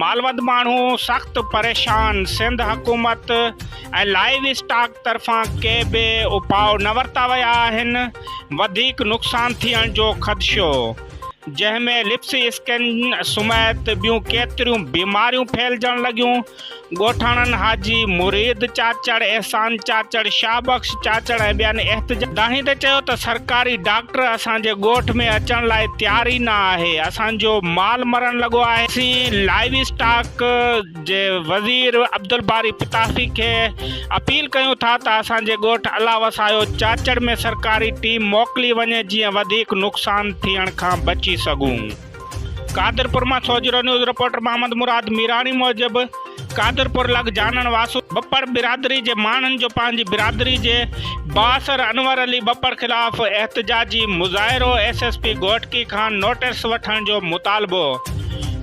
مالوند ماڻهو سخت پريشان، سنڌ حڪومت ۽ لائيو اسٽاڪ طرفان ڪي به اپاء نه ورتا ويا آهن، وڌيڪ نقصان ٿيڻ جو خدشو، جنهن ۾ لپسي اسڪن سميت ٻيون ڪيتريون بيماريون ڦهلجڻ لڳيون، ڳوٺاڻن حاجي مريد چاچڙ، احسان چاچڙ، شاهه بخش چاچڙ ۽ ٻين احتجاجين تي چيو ته سرڪاري ڊاڪٽر اسان جي ڳوٺ ۾ اچڻ لاء تيار ئي نه آهي، اسان جو مال مرڻ لڳو آهي، اسين لائيو اسٽاڪ جي وزير عبدالباري پتافي کي اپيل ڪيون ٿا ته اسان جي ڳوٺ الله وسايو چاچڙ ۾ سرڪاري ٽيم موڪلي وڃي جيئن وڌيڪ نقصان ٿيڻ کان بچي سگهون. قادرپور مان سوجهرو نيوز رپورٽر محمد مراد ميراڻي موجب قادرپور لڳ جانڻ واسو ٻپڙ برادري جي ماڻهن جو پنهنجي برادري جي بااثر انور علي ٻپڙ خلاف احتجاجي مظاهرو ايس ايس پي گهوٽڪي کان نوٽس وٺڻ جو مطالبو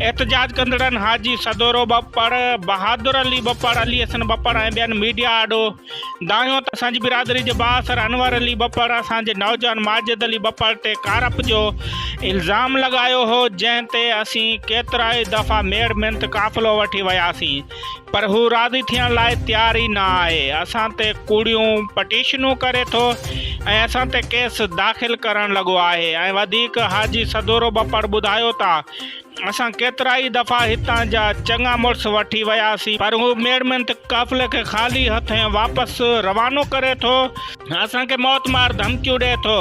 احتجاج ڪندڙن حاجي سدورو ٻپڙ بهادر علي ٻپڙ علي حسن ٻپڙ ۽ ٻين ميڊيا آڏو دانهيو ته اسان جي برادري جي بااثر انور علي ٻپڙ اسان جي نوجوان ماجد علي ٻپڙ تي ڪارپ جو الزام لڳايو هو جنهن تي اسين ڪيترائي دفعا ميڙ مينت قافلو وٺي وياسين پر هو راضي ٿيڻ لاء تيار ئي نه آهي اسان تي ڪوڙيون پٽيشنون ڪري ٿو ۽ اسان تي ڪيس داخل ڪرڻ لڳو آهي ۽ وڌيڪ حاجي سدورو ٻپڙ ٻڌايو ته اسان ڪيترائي دفعا هتان جا چڱا مڙس وٺي وياسين، پر هو ميڙمنت قافلي کي خالي هٿين واپس روانو ڪري ٿو، اسان کي موت مار ڌمڪيون ڏئي ٿو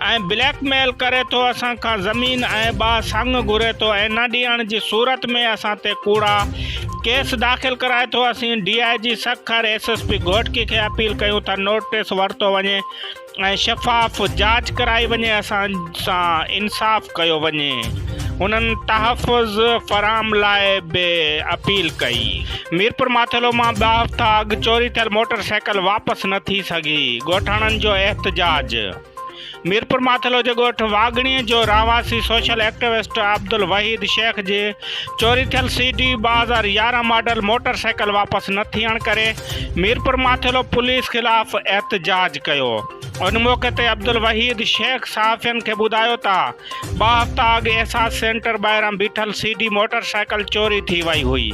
۽ بليڪ ميل ڪري ٿو، اسان کان زمين ۽ ٻه سڱ گهري ٿو ۽ نه ڏيڻ جي صورت ۾ اسان تي ڪوڙا ڪيس داخل ڪرائي ٿو، اسين D I G Sukkur, S S P Ghotki کي اپيل ڪيون ته نوٽيس ورتو وڃي، ۽ شفاف جاچ ڪرائي وڃي اسان سان انصاف ڪيو وڃي هنن تحفظ فراهم لاء به اپيل ڪئي. ميرپورماٿيلو مان ٻه هفتا اڳ چوري ٿيل موٽر سائيڪل واپس نه ٿي سگهي، ڳوٺاڻن جو احتجاج ميرپورماٿيلو جي ڳوٺ واڳڻي جو رهواسي سوشل ايڪٽوسٽ عبدالوحيد شيخ جي چوري ٿيل سي ڊي ٻه هزار يارهن ماڊل موٽر سائيڪل واپس نه ٿيڻ ڪري، ميرپور ماٿيلو پوليس خلاف احتجاج ڪيو، ان موقعي تي عبدالوحيد شيخ صحافين کي ٻڌايو ته ٻه هفتا اڳ احساس سينٽر ٻاهران بيٺل سي ڊي موٽر سائيڪل چوري ٿي وئي هئي،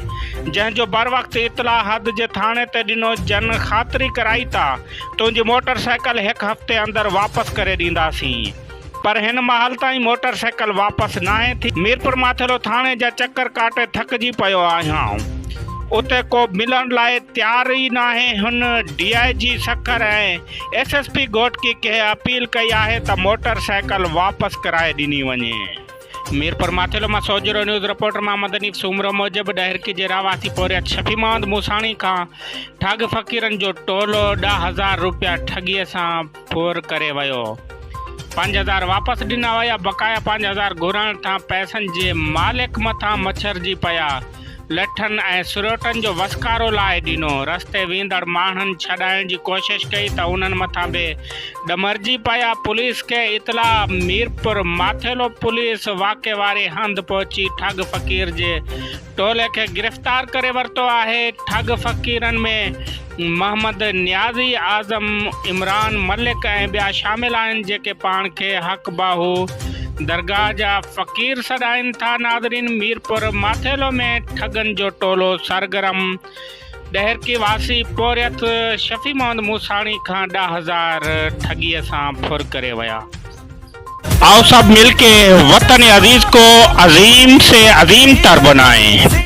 جنهن جو بروقت اطلاع حد جي ٿاڻي تي ڏنو جن خاطري ڪرائي ته تنهنجي موٽر سائيڪل هڪ هفتي اندر واپس ڪري ڏينداسين. پر هن مهل تائين موٽر سائيڪل واپس ناهي ٿي. ميرپور ماٿيرو ٿاڻي جا چڪر ڪاٽي ٿڪجي پيو آهيان. اتي ڪو ملڻ لاء تيار ئي ناهي. هن D I G Sukkur ۽ S S P Ghotki کي اپيل ڪئي آهي ته موٽر سائيڪل واپس ڪرائي ڏني وڃي. ميرپور ماٿيرو مان سوجهرو نيوز رپورٽر محمد حنيف سومرو موجب ڏهرڪي جي رهواسي پورهيت شفيع محمد موساڻي کان ٺاڳ فقيرن جو ٽولو ڏهه هزار روپيا ٺڳيء سان ڦور ڪري ويو. پنج هزار واپس ڏنا ويا، بقايا پنج هزار گهرڻ تان پئسن جي مالڪ مٿان مڇرجي پيا. لٺن ۽ سريوٽن جو وسڪارو لاهي ڏنو. رستي ويندڙ ماڻهن ڇڏائڻ جي ڪوشش ڪئي ته انهن مٿان به ڏمرجي پيا. پوليس کي اطلاع ميرپور ماٿيلو پوليس واقعي واري هنڌ پهچي ٺڳ فقير جي ٽولي کي گرفتار ڪري ورتو آهي، ٺڳ فقيرن ۾ محمد نيازي، اعظم، عمران ملڪ ۽ ٻيا شامل آهن جيڪي پاڻ کي حق باهو درگاهه جا فقير سڏائين ٿا ناظرين ميرپور ماٿيلو ۾ ٺڳن جو ٽولو سرگرم ڏهرڪي واسي پورهيت شفيع محمد موساڻي کان ڏهه هزار ٺڳيء سان ڦر ڪري ويا. آء سب مل ڪي وطن عزيز ڪو عظيم سي عظيم تر بنائين.